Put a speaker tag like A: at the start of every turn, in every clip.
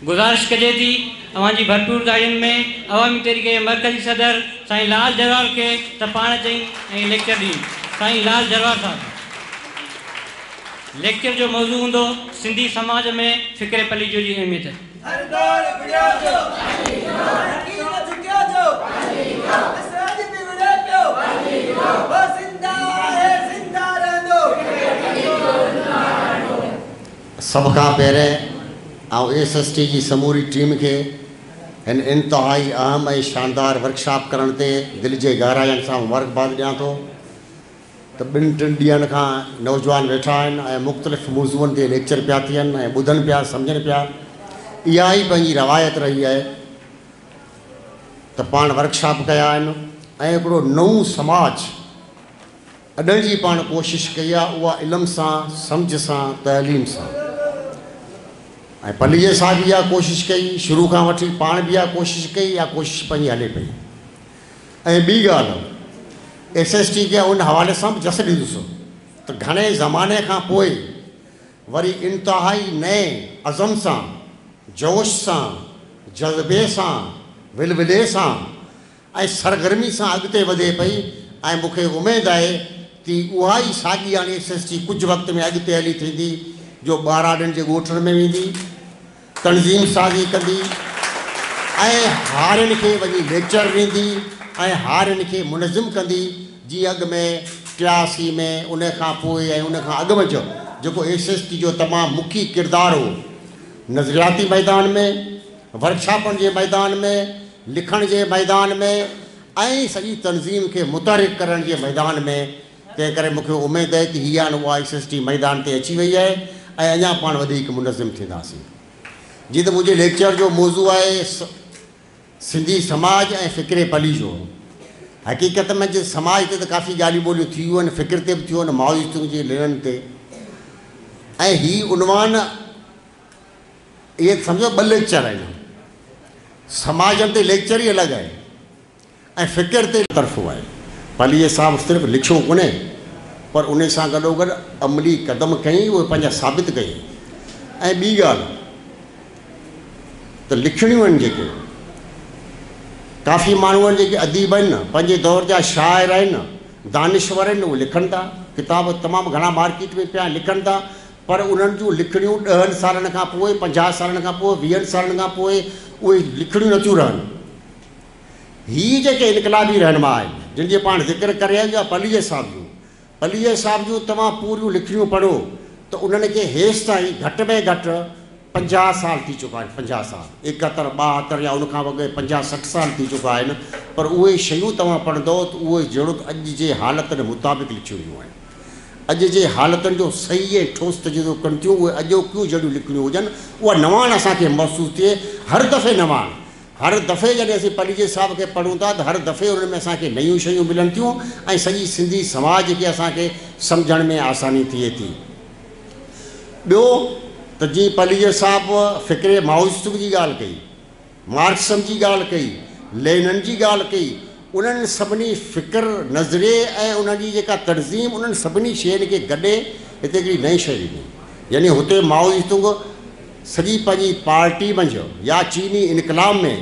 A: گذارش ڪجي ٿي اوهان جي ڀرپور داڙين ۾ عوامي تحريڪ جي مرڪزي صدر سائين لال جروار کي ته پاڻ اچين ۽ ليڪچر ڏين سائين لال جروار صاحب ليڪچر جو موضوع هوندو سنڌي سماج ۾ فڪري پليجو جي اهميت هر دور وڙهيو جو وڙهي ويو ترقي نه جهڪيو جو وڙهي ويو اسراج به وڙهي پيو وڙهي
B: ويو هو زنده آهي زنده رهندو فڪري پليجو زنده رهندو. سڀ کان پهرين آئون ايس ايس ٽي جي سموري ٽيم کي هن انتهائي اهم ۽ شاندار ورڪشاپ ڪرڻ تي دل جي گهراين سان مبارڪباد ڏيان ٿو ته ٻن ٽن ڏينهن کان نوجوان ويٺا آهن ۽ مختلف موضوعن تي ليڪچر پيا ٿين ۽ ٻڌن پيا سمجهن پيا اها ئي پنهنجي روايت رهي آهي ته پاڻ ورڪشاپ ڪيا آهن ۽ هڪڙو نئون سماج اڏڻ جي پاڻ ڪوشش ڪئي آ اها علم سان، سمجهه سان، تعليم سان ۽ پليجي صاحب به اها ڪوشش ڪئي شروع کان وٺي پاڻ به اها ڪوشش ڪئي اها ڪوشش پنهنجي هلي پئي ۽ ٻي ڳالهه ايس ايس ٽي کي ان حوالي سان به جس ڏيندس ته گهڻي زماني کان پوء وري انتهائي نئين عزم سان جوش سان جذبي سان ولولي سان ۽ سرگرمي سان اڳتي وڌي پئي ۽ مون کي اميد آهي تي اها ئي ساڳي يعني ايس ايس ٽي ڪجهه وقت ۾ اڳتي هلي ٿيندي جو ٻهراڙين جي ڳوٺن ۾ ويندي تنظيم سازي ڪندي ۽ هارين کي وڃي ليڪچر ڏيندي ۽ هارين کي منظم ڪندي جيئن اڳ ۾ ٽياسي ۾ ان کان پوء ۽ ان کان اڳ منجهه جيڪو ايس ايس ٽي جو تمام مکي ڪردار هو نظرياتي ميدان ۾ ورڪشاپن جي ميدان ۾. لکڻ جي ميدان ۾ ۽ سڄي تنظيم کي متحرڪ ڪرڻ جي ميدان ۾ تنهن ڪري مون کي اميد آهي ته هي هاڻ اها SST ميدان تي اچي وئي آهي ۽ اڃا پاڻ وڌيڪ منظم ٿينداسين. جيئن ته منهنجي ليڪچر جو موضوع آهي سنڌي سماج ۽ فڪري پليجو. حقيقت ۾ جي سماج تي ته ڪافي ڳالهيون ٻولهيون ٿيون آهن فڪر تي به ٿيون آهن مائو زي تونگ جي لنن تي ۽ هي عنوان اهي سمجهو ٻه ليڪچر آهن. سماج تي ليڪچر ئي الڳ آهي ۽ فڪر تي. طرفون آهي. پليجي صاحب صرف لکيو ڪونهي پر انهي سان گڏوگڏ عملي قدم کنئي اهي پنهنجا ثابت ڪيئي ۽ ٻي ڳالهه ته لکڻيون آهن جيڪي ڪافي ماڻهو آهن جيڪي اديب آهن نه پنهنجي دور جا شاعر آهن دانشور آهن اهي لکن ٿا ڪتاب تمام گهڻا مارڪيٽ ۾ پيا آهن لکن ٿا پر انهن جون لکڻيون ڏهن سالن کان پوء، پنجاهه سالن کان پوء، ويهن سالن کان پوء اهي لکڻيون نه ٿيون رهن. هي جيڪي انقلابي رهنما آهن، جن جي پاڻ ذڪر ڪري آيو يا پليجي صاحب جون، پليجي صاحب جون توهان پوريون لکڻيون پڙهو ته انهن کي هيستائين گهٽ ۾ گهٽ پنجاهه سال ٿي چڪا آهن، پنجاهه سال، ايڪهتر، ٻاهتر يا ان کان به اڳي پنجاهه سٺ سال ٿي چڪا آهن، پر اهي شيون توهان پڙهندؤ ته اهي جهڙوڪ اڄ جي حالتن مطابق لکيون ويون آهن. اڄ جي حالتن جو صحيح ۽ ٺوس تجزو ڪن ٿيون، اهي اڄوڪيون جهڙيون لکڻيون هجن، اها نواڻ اسان کي محسوس ٿئي، هر دفعي نواڻ. هر دفعي جڏهن اسين پليجي صاحب کي پڙهون ٿا ته هر دفعي انهن ۾ اسان کي نيون شيون ملن ٿيون ۽ سڄي سنڌي سماج کي اسان کي سمجهڻ ۾ آساني ٿئي ٿي. ٻيو ته جيئن پليجر صاحب فڪري مائويستو جي ڳالهه ڪئي، مارڪسزم جي ڳالهه ڪئي، لينن جي ڳالهه ڪئي، انهن سڀني فڪر، نظرئي ۽ انهن جي جيڪا تنظيم انهن سڀني شين کي گڏي هتي هڪڙي نئين شيء ڏني. يعني هتي مائويستو سڄي پنهنجي پارٽي منجهه يا چيني انقلاب ۾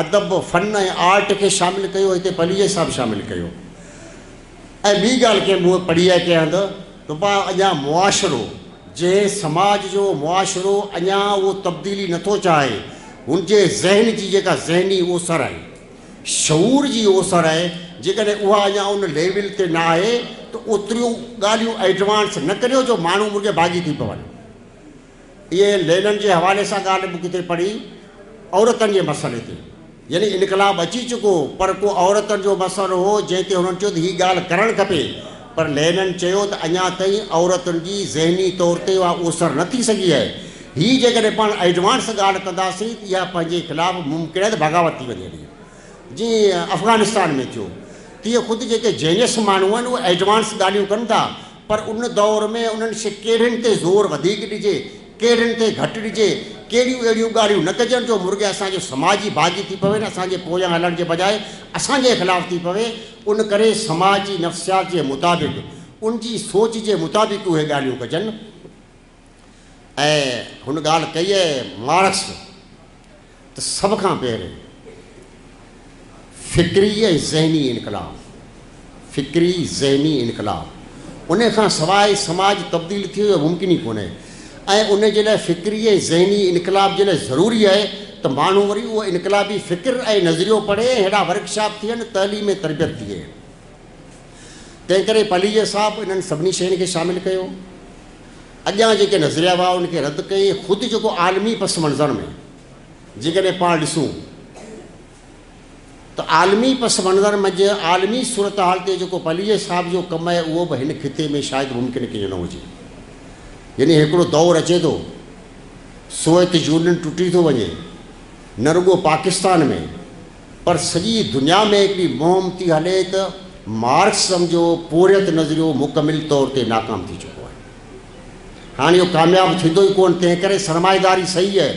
B: ادب، فن ۽ آرٽ کي شامل ڪيو، هتي پليجر صاحب شامل ڪيو. ۽ ٻي ڳالهه ڪنهن مون پڙهي آهي ڪنهن هنڌ ته پاء اڃان معاشرو جنهن سماج جو معاشرو اڃان اهو تبديلي نه ٿو چاهي هن جي ذهن جي جيڪا ذهني اوسر آهي شعور جي اوسر آهي جيڪڏهن اها اڃان ان ليول تي نه آهي ته اوتريون ڳالهيون ايڊوانس نه ڪريو جو ماڻهو مڙ جي باغي ٿي پون. اهي لينن جي حوالي سان ڳالهه به ڪٿي پڙهي عورتن جي مسئلي تي. يعني انقلاب اچي چڪو هو پر ڪو عورتن جو مسئلو هو جنهن تي هنن چيو ته هي ڳالهه ڪرڻ کپي پر لينن چيو ته اڃا تائين عورتن جي ذهني طور تي اها اوسر نه ٿي سگهي آهي هي جيڪڏهن پاڻ ايڊوانس ڳالهه ڪنداسين ته اها پنهنجي خلاف ممڪن آهي ته بغاوت ٿي وڃي هلي جيئن افغانستان ۾ ٿيو تيئن خود جيڪي جينيس ماڻهو آهن اهي ايڊوانس ڳالهيون ڪن ٿا پر ان دور ۾ انهن شي ڪهڙين تي زور وڌيڪ ڏجي، ڪهڙين تي گهٽ ڏجي، ڪهڙيون اهڙيون ڳالهيون نه ڪجن جو مرڳي اسان جو سماج ئي باغي ٿي پوي نه اسان جي پويان هلڻ جي بجاء اسان جي خلاف ٿي پوي، ان ڪري سماج جي نفسيات جي مطابق، ان جي سوچ جي مطابق اهي ڳالهيون ڪجن. ۽ هن ڳالهه ڪئي آهي مارڪس ته سڀ کان پهرين فڪري ۽ ذهني انقلاب فڪري ذهني انقلاب ان کان سواء سماج تبديل ٿيو اهو ممڪن ئي ڪونهي ۽ ان جي لاء فڪري ۽ ذهني انقلاب جي لاء ضروري آهي ته ماڻهو وري اهو انقلابي فڪر ۽ نظريو پڙهي ۽ ههڙا ورڪشاپ ٿين تعليم ۽ تربيت ٿئي تنهن ڪري پليجر صاحب انهن سڀني شين کي شامل ڪيو، اڳيان جيڪي نظريا هئا ان کي رد ڪيئي ۽ خود جيڪو عالمي پس منظر ۾ جيڪڏهن پاڻ ڏسون ته عالمي پس منظر منجهه عالمي صورتحال تي جيڪو پليجر صاحب جو ڪم آهي اهو به هن خطي ۾ شايد ممڪن ڪيئن نه هجي يعني هڪڙو دور اچي ٿو سوويت يونين ٽٽي ٿو وڃي نه رڳو پاڪستان ۾ پر سڄي دنيا ۾ هڪڙي مهم ٿي هلي ته مارڪسزم جو پورهيت نظريو مڪمل طور تي ناڪام ٿي چڪو آهي. هاڻ اهو ڪامياب ٿيندو ئي ڪونه، تنهنڪري سرمائيداري صحيح آهي.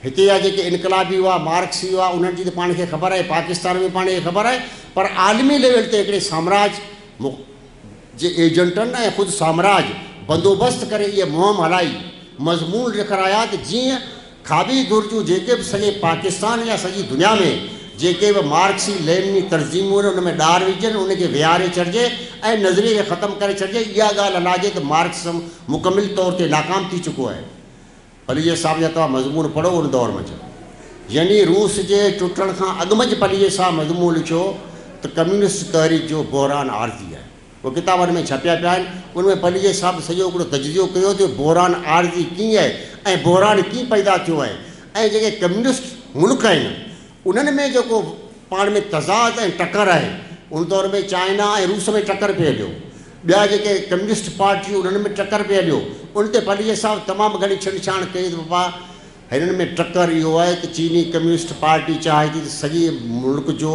B: هتي جا جيڪي انقلابي هئا، مارڪسي هئا، انهن جي ته پاڻ کي خبر آهي، پاڪستان ۾ به پاڻ کي خبر آهي، پر عالمي ليول تي هڪڙي سامراج جي ايجنٽن ۽ خود سامراج بندوبست ڪري اهي مهم هلائي، مضمون لکرايا ته جيئن کاٻي ڌر جون جيڪي به سڄي پاڪستان يا سڄي دنيا ۾ جيڪي به مارڪسي لينني ترجيحون آهن ان ۾ ڏار وجهجن، ان کي ويهاري ڇڏجي ۽ نظريي کي ختم ڪري ڇڏجي، اها ڳالهه الاجي ته مارڪسزم مڪمل طور تي ناڪام ٿي چڪو آهي. پليجي صاحب جا توهان مضمون پڙهو ان دور منجهه يعني روس جي ٽٽڻ کان اڳ منجهه پليجي صاحب مضمون لکيو ته ڪميونسٽ تحريڪ جو بحران عارضي آهي. اهي ڪتاب ان ۾ ڇپيا پيا آهن. ان ۾ پليجي صاحب سڄو هڪڙو تجزيو ڪيو اٿو ته بحران عارضي ڪيئن آهي ۽ بحران ڪيئن پيدا ٿيو آهي ۽ جيڪي ڪميونسٽ ملڪ آهن انهن ۾ جيڪو پاڻ ۾ تضاد ۽ ٽڪر آهي ان دور ۾ چائنا ۽ روس ۾ ٽڪر پئي هليو ٻيا جيڪي ڪميونسٽ پارٽيون انهن ۾ ٽڪر پئي هليو ان تي پليجي صاحب تمام گهڻي ڇنڊ ڇاڻ ڪئي ته بابا هنن ۾ ٽڪر اهو آهي ته چيني ڪميونسٽ پارٽي چاهي ٿي ته سڄي ملڪ جو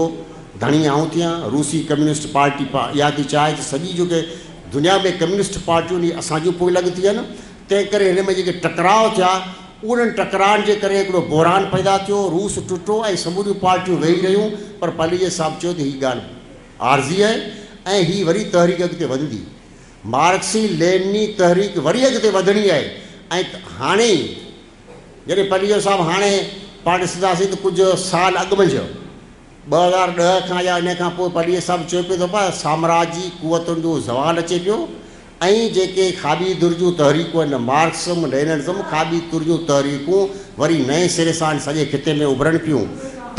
B: ڌڻي آئون ٿيان، روسي ڪميونسٽ پارٽي اها ٿي چاهي ته سڄي جيڪي دنيا ۾ ڪميونسٽ پارٽيون اهي اسان جون پوء لڳ ٿيون آهن، تنهن ڪري هن ۾ جيڪي ٽڪراء ٿيا انهن ٽڪرائن جي ڪري هڪڙو بحران پيدا ٿيو، روس ٽٽو ۽ سموريون پارٽيون ويهي رهيون پر پاليجي صاحب چيو ته هي ڳالهه عارضي آهي ۽ هي وري تحريڪ اڳتي وڌندي. مارڪسي لينني تحريڪ وري اڳتي وڌڻي آهي ۽ هاڻي ئي جڏهن پليجو صاحب هاڻي پاڻ ڏسنداسين ته ڪجهه سال اڳ منجهه ٻه هزار ڏهه کان يا انهيء کان پوء پليجي صاحب چيو پيو ته پاء سامراجي قوتن جو زوال اچي پيو ۽ جيڪي کاٻي ڌر جون تحريڪون آهن مارڪسزم ليننزم کاٻي ڌر جون تحريڪون وري نئين سري سان سڄي خطي ۾ اڀرن پيون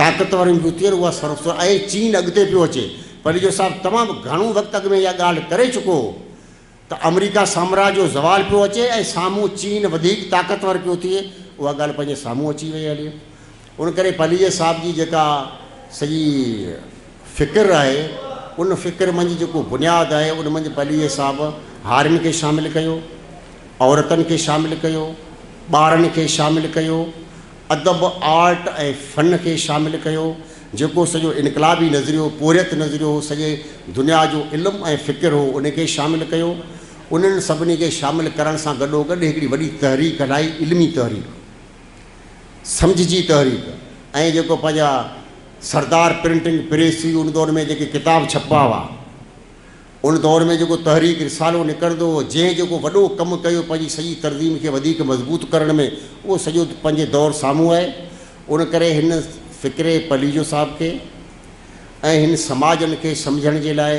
B: طاقتورن جون ٿين اها سرخ سرخ ۽ چين اڳتي پيو اچي پليجو صاحب تمام گهڻو وقت اڳ ۾ اها ڳالهه ڪري چڪو هو ته آمريڪا سامراج جو زوال پيو اچي ۽ سامهون چين وڌيڪ طاقتور پيو ٿئي اها ڳالهه پنهنجي سامهون اچي وئي هلي ان ڪري پليجي صاحب جي جيڪا سڄي فڪر آهي ان فڪر منجهه جيڪو بنياد آهي ان منجهه پليجي صاحب هارين کي شامل ڪيو عورتن کي شامل ڪيو ٻارن کي شامل ڪيو ادب آرٽ ۽ فن کي شامل ڪيو جيڪو سڄو انقلابي نظريو، پورهيت نظريو هو، سڄي دنيا جو علم ۽ فڪر هو، ان کي شامل ڪيو. انهن سڀني کي شامل ڪرڻ سان گڏوگڏ هڪڙي وڏي تحريڪ هلائي، علمي تحريڪ، سمجهه جي تحريڪ ۽ جيڪو پنهنجا سردار پرنٽنگ پريس هئي، ان دور ۾ جيڪي ڪتاب ڇپبا هئا، ان دور ۾ جيڪو تحريڪ رسالو نڪرندو هو، جنهن جيڪو وڏو ڪم ڪيو پنهنجي سڄي تنظيم کي وڌيڪ مضبوط ڪرڻ ۾، اهو سڄو پنهنجي دور سامهون آهي. ان ڪري هن فڪري پليجو صاحب کي ۽ هن سماجن کي سمجهڻ جي لاء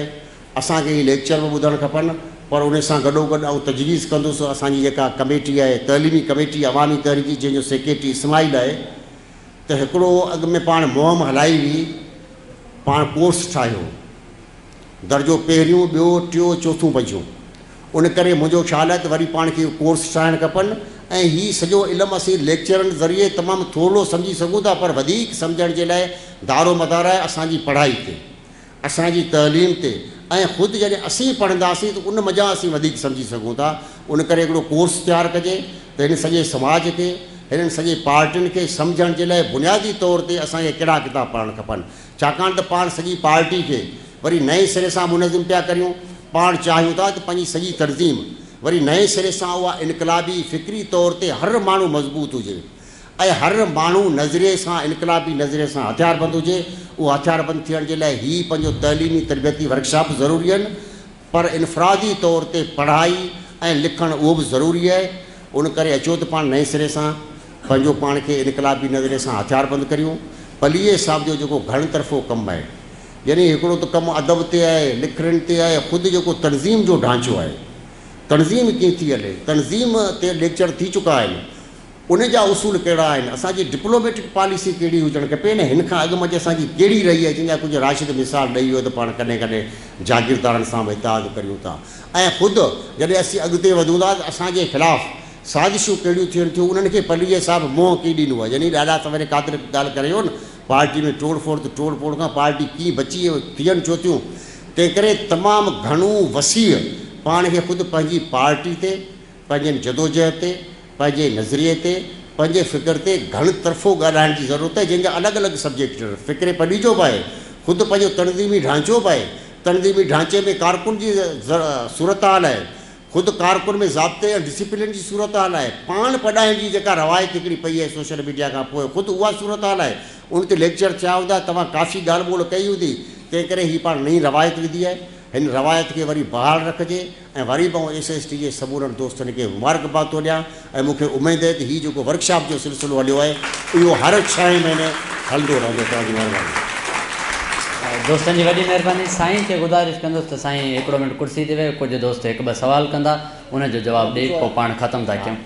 B: اسان کي هي ليڪچر به ٻڌڻ کپن، پر ان سان گڏوگڏ آئون تجويز ڪندس اسان جي جيڪا ڪميٽي آهي، تعليمي ڪميٽي عوامي تحريڪ جنهن جو سيڪريٽري اسماعيل آهي، ته هڪڙو اڳ ۾ پاڻ مهم هلائي هئي، پاڻ ڪورس ٺاهيو. درجو پهريون، ٻيو، ٽيون، چوٿون پنجون. ان ڪري منهنجو خيال آهي ته وري پاڻ کي ڪورس ٺاهڻ کپن ۽ هي سڄو علم اسين ليڪچرن ذريعي تمام ٿورڙو سمجهي سگهون ٿا پر وڌيڪ سمجهڻ جي لاء دارو مدار آهي اسان جي پڙهائي تي، اسان جي تعليم تي ۽ خود جڏهن اسين پڙهنداسين ته ان مجان اسين وڌيڪ سمجهي سگهون ٿا. ان ڪري هڪڙو ڪورس تيار ڪجي ته هن سڄي سماج کي، هنن سڄي پارٽين کي سمجهڻ جي لاء بنيادي طور تي اسان کي ڪهڙا ڪتاب پڙهڻ کپن. ڇاڪاڻ ته پاڻ سڄي پارٽي کي وري نئين سري سان منظم پيا ڪريون، پاڻ چاهيون ٿا ته پنهنجي سڄي تنظيم وري نئين سري سان اها انقلابي فڪري طور تي هر ماڻهو مضبوط هجي ۽ هر ماڻهو نظرئي سان انقلابي نظرئي سان هٿياربند هجي، اهو هٿياربند ٿيڻ جي لاء هي پنهنجو تعليمي تربيتي ورڪشاپ ضروري آهن. پر انفرادي طور تي پڙهائي ۽ لکڻ اهو به ضروري اهي، ان ڪري اچو ته پاڻ نئين سري سان پنهنجو پاڻ کي انقلابي نظرئي سان هٿيار بند ڪريون. پليجي صاحب جو جيڪو گهڻ طرفو ڪم اهي، يعني هڪڙو ته ڪم ادب تي اهي، لکڻين تي اهي، خود جيڪو تنظيم جو ڍانچو اهي، تنظيم ڪيئن ٿي هلي، تنظيم تي ليڪچر ٿي چڪا آهن، ان جا اصول ڪهڙا آهن، اسان جي ڊپلوميٽڪ پاليسي ڪهڙي هجڻ کپي ۽ هن کان اڳ منجهه اسان جي ڪهڙي رهي آهي، جنهن جا ڪجهه راشد مثال ڏئي ويو ته پاڻ ڪڏهن ڪڏهن جاگيردارن سان به اتحاد ڪريون ٿا ۽ خود جڏهن اسين اڳتي وڌون ٿا ته اسان جي خلاف سازشون ڪهڙيون ٿين ٿيون انهن کي پليجي صاحب منهن ڪي ڏنو آهي يعني ڏاڏا سويري قادر ڳالهه ڪري ويو نه پارٽي ۾ ٽوڙ ڦوڙ ته ٽوڙ ڦوڙ کان پارٽي ڪيئن بچي ۽ ٿين ڇو ٿيون تنهنڪري تمام گهڻو وسيع پاڻ کي خود پنهنجي پارٽي تي پنهنجن جدوجهد تي پنهنجي نظريي تي، پنهنجي فڪر تي گهڻ طرفو ڳالهائڻ جي ضرورت آهي، جنهن جا الڳ الڳ سبجيڪٽ، فڪري پليجو به آهي، خود پنهنجو تنظيمي ڍانچو به آهي. تنظيمي ڍانچي ۾ ڪارڪن جي صورتحال آهي، خود ڪارڪن ۾ ضابطي ۽ ڊسيپلين جي صورتحال آهي، پاڻ پڏائڻ جي جيڪا روايت هڪڙي پئي آهي سوشل ميڊيا کان پوء خود اها صورتحال آهي، ان تي ليڪچر ٿيا هوندا، توهان ڪافي ڳالهه ٻولهه ڪئي هوندي، تنهنڪري هي پاڻ نئين روايت وڌي آهي، هن روايت کي وري بحال رکجي. ۽ وري به آئون ايس ايس ٽي جي سمورن دوستن کي مبارڪباد ٿو ڏيان ۽ مون کي اميد آهي ته هي جيڪو ورڪشاپ جو سلسلو هليو آهي اهو هر ڇهين مهيني هلندو رهندو توهان جي مهرباني. دوستن جي وڏي
A: مهرباني سائين کي گذارش ڪندس ته سائين هڪڙو منٽ ڪرسي تي ويهه ڪجهه دوست هڪ ٻه سوال ڪندا ان جو جواب ڏئي پوء پاڻ ختم ٿا ڪيون.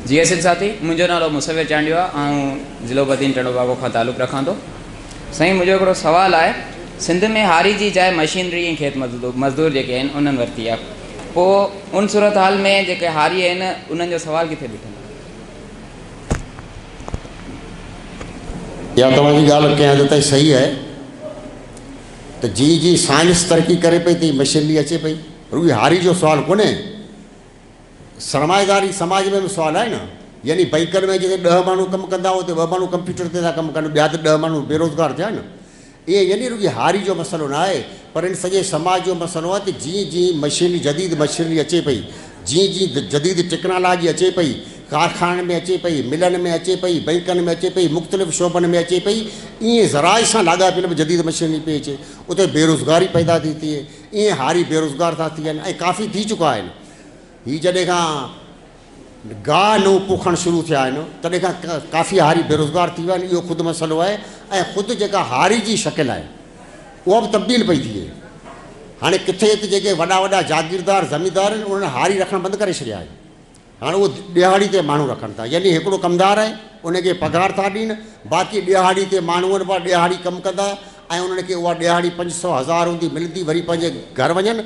C: جي ايس ايل ساٿي منهنجو نالو مصور چانڊيو آهي آئون ضلعو بدين ٽنڊو باگو کان تعلق رکان ٿو سائين منهنجو هڪڙو سوال آهي سنڌ ۾ هاري جي جاء مشينري ۽ کيت مزدور مزدور جيڪي آهن انهن ورتي آهي پوء ان صورتحال ۾ جيڪي هاري آهن انهن جو سوال ڪٿي بيٺل
B: يا توهان جي ڳالهه ڪنهن حد تائين صحيح آهي ته جي جي سائنس ترقي ڪري پئي ته مشينري اچي پئي رڳي هاري جو سوال ڪونهي، سرمائيداري سماج ۾ به سوال آهي نه، يعني بئنڪن ۾ جتي ڏهه ماڻهو ڪم ڪندا اتي ٻه ماڻهو ڪمپيوٽر تي ٿا ڪم ڪن، ٻيا ته ڏهه ماڻهو بيروزگار ٿيا نه. ايئن يعني رڳي هاري جو مسئلو نه آهي، پر هن سڄي سماج جو مسئلو آهي ته جيئن جيئن مشينري جديد مشينري اچي پئي، جيئن جيئن جديد ٽيڪنالاجي اچي پئي، ڪارخانن ۾ اچي پئي، ملن ۾ اچي پئي، بئنڪن ۾ اچي پئي، مختلف شعبن ۾ اچي پئي، ايئن زراعت سان لاڳاپيل به جديد مشينري پئي اچي، اتي بيروزگاري پيدا ٿي ٿئي. ايئن هاري بيروزگار ٿا ٿين ۽ ڪافي ٿي چڪا آهن. هي جڏهن کان گاهه نئون پوکڻ شروع ٿيا آهن تڏهن کان ڪافي هاري بيروزگار ٿي ويا آهن اهو خود مسئلو آهي ۽ خود جيڪا هاري جي شڪل آهي اها به تبديل پئي ٿئي. هاڻي ڪٿي ته جيڪي وڏا وڏا جاگيردار زميندار آهن انهن هاري رکڻ بند ڪري ڇڏيا آهن. هاڻ اهو ڏهاڙي تي ماڻهو رکن ٿا يعني هڪڙو ڪمدار آهي ان کي پگهار ٿا ڏين باقي ڏهاڙي تي ماڻهو ابا ڏهاڙي ڪم ڪندا ۽ انهن کي اها ڏهاڙي پنج سئو هزار هوندي ملندي وري پنهنجي گهر وڃن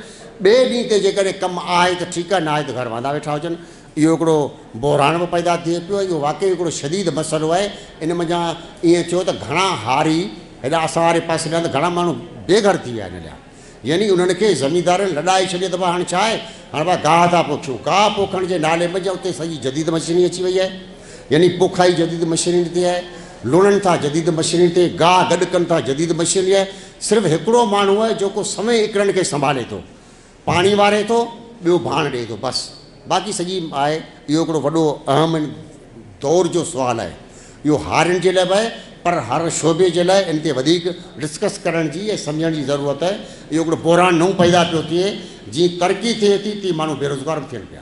B: ٻئي ڏينهن تي جيڪڏهن ڪم آهي ته ٺيڪ آهي ناهي ته گهر واندا ويٺا هجن اهو هڪڙو بحران به پيدا ٿئي پيو اهو واقعي هڪڙو شديد مسئلو آهي ان منجهان ائين ٿيو ته گهڻا هاري هيڏا اسان واري پاسي ڏانهن ته گهڻا ماڻهو بي گهر ٿي ويا ان ڏانهن يعني انهن کي زميندارن لڏائي ڇڏي ته ڀا هاڻ ڇا آهي، هاڻ ڀا گاهه ٿا پوکيون. گاهه پوکڻ جي نالي منجهه اتي سڄي جديد مشينري اچي وئي آهي. يعني پوکائي جديد مشينري تي آهي، لوڻن ٿا جديد مشينري تي، گاهه گڏ ڪن ٿا جديد مشينري آهي. صرف هڪڙو ماڻهو آهي جيڪو سوين ايڪڙن کي سنڀالي ٿو، پاڻي واري ٿو، ٻيو ڀاڻ ڏئي ٿو، بس. باقي سڄي آهي اهو هڪڙو وڏو اهم دور جو سوال آهي اهو هارين جي لاء به آهي پر هر شعبي جي لاء ان تي وڌيڪ ڊسڪس ڪرڻ جي ۽ سمجهڻ جي ضرورت آهي اهو هڪڙو بحران نئون پيدا پيو ٿئي جيئن ترقي ٿئي ٿي تيئن ماڻهو بيروزگار به ٿين پيا.